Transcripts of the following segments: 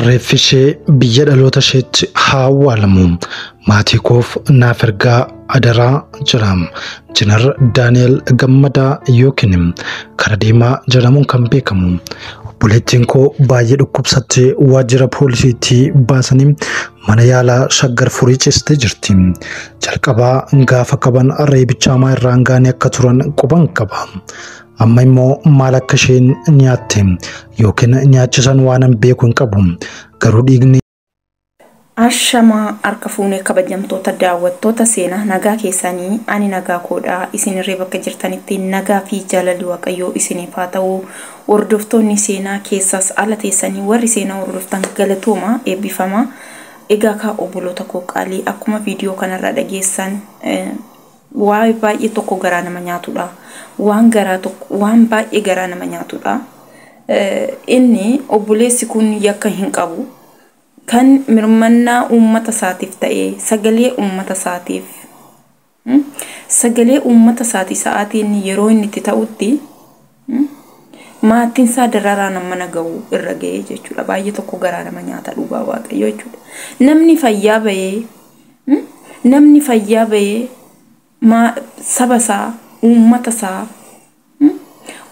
Reeffi ishee biyya dhaloota isheetti haa awwaalamu. Maatii koof naaf ergaa adaraa jira. Injinar Daani'el Gammadaa yookiin kara deemaa jedhamuun kan beekamu. Obboleettiin koo baay'ee dhukkubsattee waajjira poolisiitti baasanii mana yaalaa shaggar furii cistee jirti. Jalqabaa gaafa qaban reebicha hamaa irraan gaanii akka turan quban qaba. Amma immoo maal akka isheen nyaatte yookiin nyaachisan waanan beeku hin qabu. Garuu dhiigni Ashamaa harka fuune kabajamtoota daawwattoota seenaa nagaa keessaanii ani nagaa koodha isinirree bakka jirtanitti nagaa fi jaalalli waaqayyoo isiniif haa ta'u hordoftoonni seenaa keessaas ala teessanii warri seenaa hordoftan galatooma eebbifamaa egaa kaa obboloota koo qaalii akkuma viidiyoo kanarraa dhageessan eh, Wly baay'ee tokko garaa nama nyaatudha waan garaa tokko waan baay'ee garaa nama nyaatudha inni obboleessi kun yakka hin qabu kan mirmannaa uummata isaatiif ta'ee sagalee uummata isaatiif sagalee uummata isaati sa'aatiin yeroo inni itti ta'utti Maatiin isaa dararaan hammana gahu irra gahee jechuudha. Baay'ee tokko garaa nama nyaata dhugaa waaqayyoo jechuudha. Namni fayyaa bahee namni fayyaa bahee saba isaa uummata isaa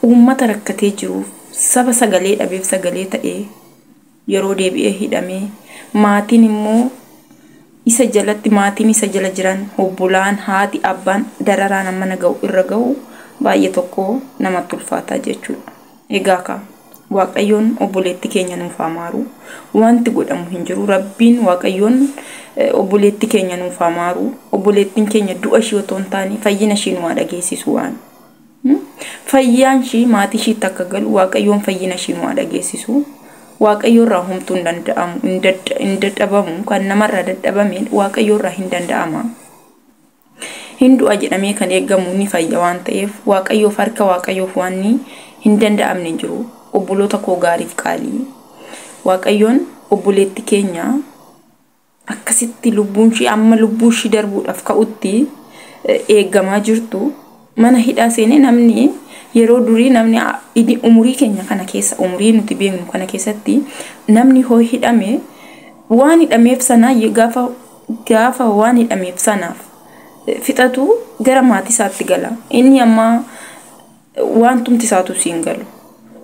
uummata rakkatee jiruuf saba sagalee dhabeef sagalee ta'ee yeroo deebi'ee hidhame maatiin immoo isa jalatti maatiin isa jala jiran obbolaan haati abbaan dararaan amma na ga'u irra ga'u baay'ee tokko namatti ulfaataa jechuudha. Egaa kaa waaqayyoon obboleetti keenya nuuf haa maaru wanti godhamu hin jiru rabbiin waaqayyoon obboleetti keenya nuuf haa maaru obboleettiin keenya du'a ishii otoo hin taane fayyina ishii nu haa dhageessisu waan Fayyaan ishii maatii ishiitti akka galu Waaqayyoon fayyina ishii nu haa dhageessisu. Waaqayyo irraa homtuu hin danda'amu, hin dadda- hin dadhabamu, kan namarraa dadhabame Waaqayyo irraa hin danda'ama. Hin du'a jedhamee kan eegamu ni fayya waan ta'eef Waaqayyoof harka Waaqayyoof waan ni hin danda'amne hin jiru. Obboloota koo gaariif qaalii. Waaqayyoon obboleetti keenya akkasitti lubbuun ishii amma lubbuun ishii darbuudhaaf ka'utti eegamaa jirtu mana hidhaa seenee namni yeroo durii namni idi umurii keenya kana keessa umurii nuti beeknu kana keessatti namni hoo hidhame waan hidhameef sana gaafa gaafa waan hidhameef sanaaf fixatu gara maatii isaatti gala inni ammaa waantumti isaatu si hin galu.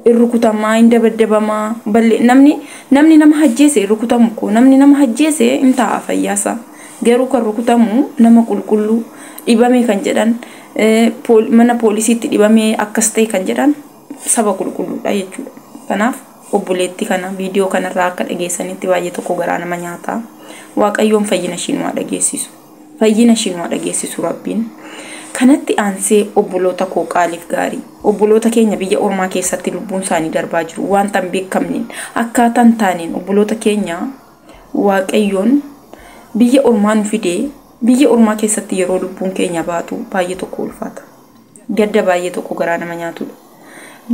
In rukutamaa, in dabaddabamaa, balli namni namni nama hajjeese hin rukutamu koo namni nama hajjeese in taa'a fayyaasa. Garuu kan rukutamu nama qulqulluu dhibame kan jedhan mana poolisiitti dhibame akkas ta'e kan jedhan saba qulqulluudha jechuudha. Kanaaf obboleetti kana viidiyoo kanarraa akka dhageessanitti baay'ee tokko garaa nama nyaata. Waaqayyoon fayyina ishii nu haa dhageessisu. Fayyina ishii nu haa dhageessisu Rabbiin. Kanatti aansee obboloota koo qaaliif gaarii, obboloota keenya biyya ormaa keessatti lubbuun isaanii darbaa jiru waanta hin beekamneen, akkaataa hin taaneen obboloota keenya Waaqayyoon biyya ormaa nu fidee biyya ormaa keessatti yeroo lubbuun keenya baatu baay'ee tokko ulfaata. Gadda baay'ee tokko garaa nama nyaatudha.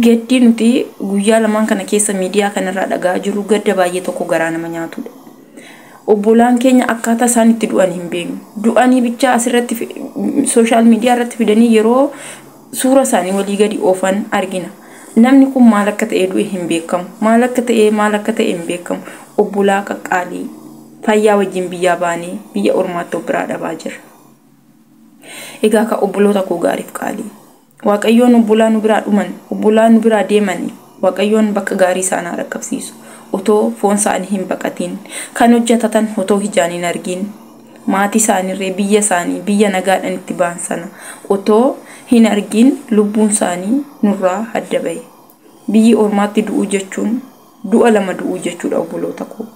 Gaddi nuti guyyaa lamaan kana keessa miidiyaa kanarraa dhaga'aa jirru gadda baay'ee tokko garaa nama nyaatudha. Obbolaan keenya akkaataa isaan itti du'an hin beeknu. Du'anii bichaa asirratti sooshaal miidiyaa irratti fidanii yeroo suura isaanii walii gadi oofan argina. Namni kun maal akka ta'e du'e hin beekamu. Maal akka ta'e maal akka ta'e hin beekamu. Obbolaa qaqqaalii fayyaa wajjin biyyaa baanee biyya ormaatti of biraa dhabaa jirra. Egaa ka obboloota koo gaariif qaalii. Waaqayyoon obbolaa nu biraa dhuman, obbolaa nu biraa deemani Waaqayyoon bakka gaarii isaan haa dhaqqabsiisu. Otoo foon isaanii hin baqatiin, kan hojjatatan otoo hijaan hin argiin, maatii isaaniirree biyya isaanii, biyya nagaadhan itti ba'an sana otoo hin argiin lubbuun isaanii nurraa adda ba'e. Biyyi ormaatti du'uu jechuun du'a lama du'uu jechuudha obboloota koo.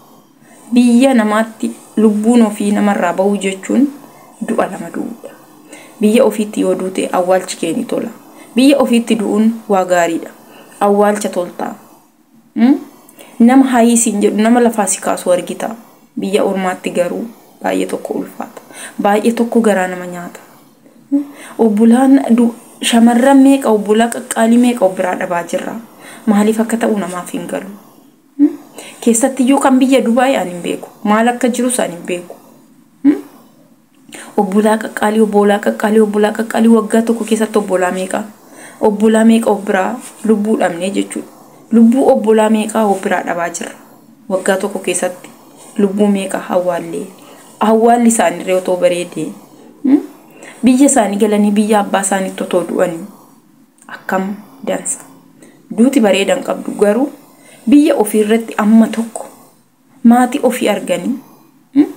Biyya namaatti lubbuun ofii namarraa bahuu jechuun du'a lama du'uudha. Biyya ofiitti yoo duute awwaalchi kee ni tola. Biyya ofiitti du'uun waa gaariidha. Awwaalcha toltaa. Umm nama hayii siin jedhu nama lafaa si kaasu argita. Biyya ormaatti garuu baay'ee tokko ulfaata. Baay'ee tokko garaa nama nyaata. Obbolaan du shamarran meeqa obbolaa qaqqaalii meeqa of biraa dhabaa jirra. Maaliif akka ta'u namaaf hin galu. Keessattiyyuu kan biyya Dubaay ani hin beeku. Maal akka jirus ani hin beeku. Obbolaa qaqqaalii, obbolaa qaqqaalii, obbolaa qaqqaalii waggaa tokko keessatti obbolaa meeqa? Obbolaa meeqa of biraa lubbuu dhabnee jechuudha. Lubbuu obbolaa meeqaa of biraa dhabaa jirra. Waggaa tokko keessatti lubbuu meeqa hawwaallee. Hawwaalli isaaniirree otoo bareedee. Biyya isaanii galanii biyya abbaa isaaniitti otoo du'anii. akkam dansa duuti bareedan qabdu garuu biyya ofii irratti amma tokko maatii ofii arganii hmm?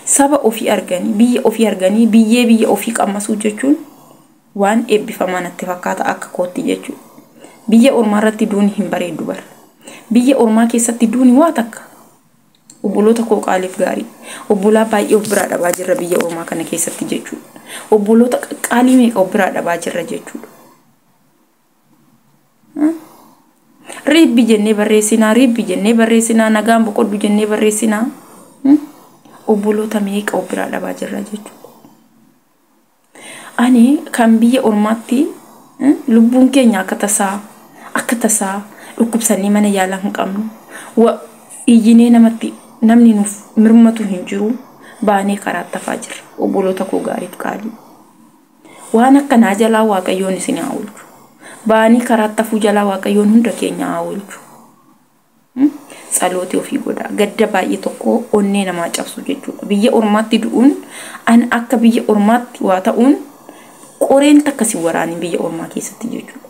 saba ofii arganii biyya ofii arganii biyyee biyya ofii qammasuu jechuun waan eebbifamaa natti fakkaata akka kootti jechuudha. Biyya ormaa irratti duuni hin bareeddu bara. Biyya ormaa keessatti duuni waa takka Obboloota koo qaaliif gaarii. Obbolaa baay'ee of biraa dhabaa jirra biyya ormaa kana keessatti jechuudha. Obboloota qaqqaalii meeqa of biraa dhabaa jirra jechuudha. Riibbi jennee barreessinaa, riibbi jennee barreessinaa, nagaan boqodhu jennee barreessinaa. Obboloota meeqa of biraa dhabaa jirra jechuudha. Ani kan biyya ormaatti lubbuun keenya akka tasaa akka tasaa dhukkubsannee mana yaalaa hin qabnu. Wa iyyinee namatti namni nuuf mirmatu hin jiru baanee karaa tafaa jirra. Obboloota koo gaariif qaalii. Waan akka naa jalaa waaqayyoon isin haa oolchu. Baanii karaa tafuu jalaa waaqayyoon hunda keenya haa oolchu. Tsalooti ofii godhaa. Gadda baay'ee tokko onnee namaa cabsu jechuudha. Biyya ormaatti du'uun an akka biyya ormaatti waa ta'uun qoreen takka si waraaniin biyya ormaa keessatti jechuudha.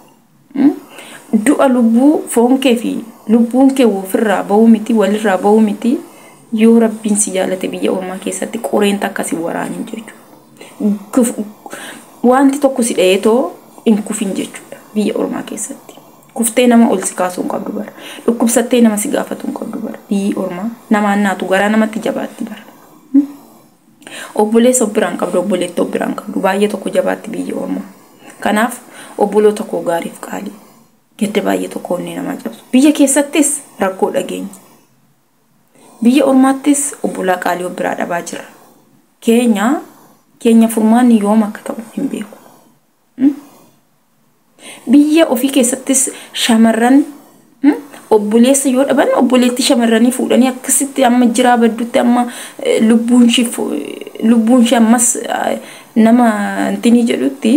Du'a lubbuu foon kee fi lubbuun kee ofirraa ba'uu miti walirraa ba'uu miti yoo rabbiin si jaalate biyya ormaa keessatti qoreen takka si waraaniin jechuudha. Wanti tokko si dha'ee too hin kufin jechuudha biyya ormaa keessatti. Kuftee nama ol si kaasuu hin qabdu bar. Dhukkubsattee nama si gaafatuu hin qabdu bar. Biyyi ormaa namaan naatu garaa namatti jabaatti bar. Obboleessa of biraa hin qabdu obboleetti of biraa hin qabdu baay'ee tokko jabaatti biyyi ormaa. Kanaaf obboloota koo gaariif qaalii gadda baay'ee tokko onnee namaa cabsu. Biyya keessattis rakkoo dhageenya. Biyya ormaattis obbolaa qaalii of biraa dhabaa jirra. Keenya keenya furmaanni yoom akka ta'u hin beeku. Biyya ofii keessattis shamarran obboleessa yoo dhaban obboleettii shamarranii fuudhanii akkasitti amma jiraa baddutti amma lubbuun ishee ammas nama intinii jedhutti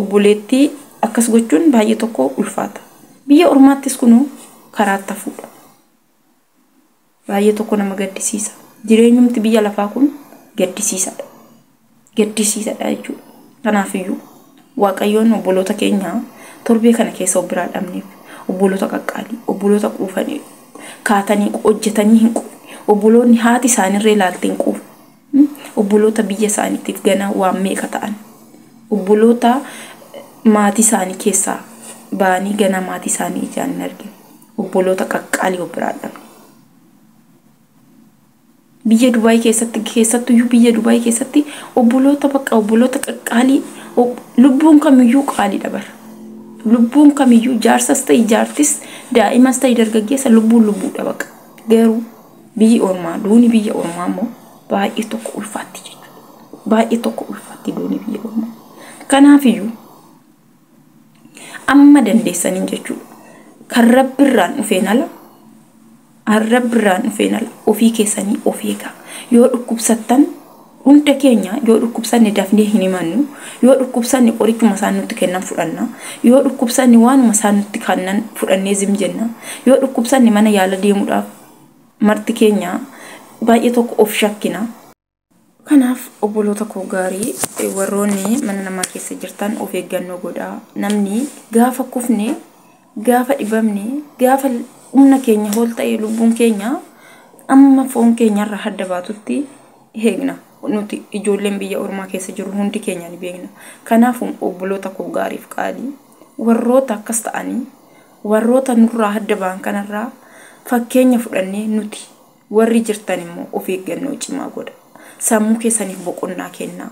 obboleettii akkas gochuun baay'ee tokko ulfaata. Biyya ormaattis kunuu karaa itti hafuudha. Baay'ee tokko nama gaddisiisa. Jireenyumti biyya lafaa kun gaddisiisadha. Gaddisiisadha jechuudha. Kanaafiyyuu Waaqayyoon obboloota keenya torbee kana keessa of biraa dhabneef obboloota qaqqaalii, obboloota quufanii, kaatanii hojjetanii hin quufne, obboloonni haati isaanirra ilaaltee hin quufne, obboloota biyya isaaniitiif ganaa waan meeqa ta'an, obboloota maatii isaanii keessaa ba'anii ganaa maatii isaanii ijaan hin argine. Obboloota qaqqaalii of biraa dhabne. Biyya Dubaayii keessatti keessattu iyyuu biyya Dubaayii keessatti obboloota bakka obboloota qaqqaalii lubbuun kamiyyuu qaalii dabara. Lubbuun kamiyyuu jaarsas ta'e jaartis daa'imas ta'e dargaggeessa lubbuun lubbuu dhabaqa. Garuu biyyi ormaa duuni biyya ormaa immoo baay'ee tokko ulfaatti jechuudha. Baay'ee tokko ulfaatti duuni biyya ormaa. Kanaafiyyuu amma dandeessaniin jechuudha. Kan rabbirraan dhufeen ala rabbirraan dhufeen ala ofii keessanii of eegaa. Yoo dhukkubsattan hunda keenya yoo dhukkubsanne dafnee hin himannu. Yoo dhukkubsanne qorichuma isaan nutti kennan fudhanna. Yoo dhukkubsanne waanuma isaan nutti kennan fudhannee zim jenna. Yoo dhukkubsanne mana yaala deemuudhaaf marti keenya baay'ee tokko of shakkina. Kanaaf obboloota koo gaarii warroonni mana namaa keessa jirtan of eeggannoo godhaa. Namni gaafa kufne, gaafa dhibamne, gaafa humna keenya ol ta'e lubbuun keenya amma foon keenyarra hadda baatutti eegna. Nuti ijoolleen biyya ormaa keessa jirru hundi keenya ni beekna. Kanaaf obboloota koo gaariif qaalii warroota akkas ta'anii warroota nurraa hadda ba'an kanarraa fakkeenya fudhannee nuti Warri jirtan immoo of eeggannoo cimaa godhaa. Sammuu keessaniif boqonnaa kennaa.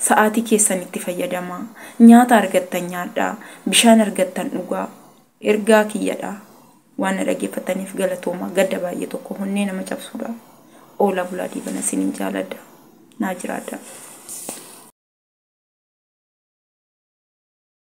Sa'aatii keessan itti fayyadamaa. Nyaata argattan nyaadhaa. Bishaan argattan dhugaa. Ergaa kiyya dha. Waan na dhaggeeffattaniif galatoomaa. Gadda baay'ee tokko honnee nama cabsuu dha. Oolaa bulaa diibana isiniin jaaladha. Naa jiraadhaa.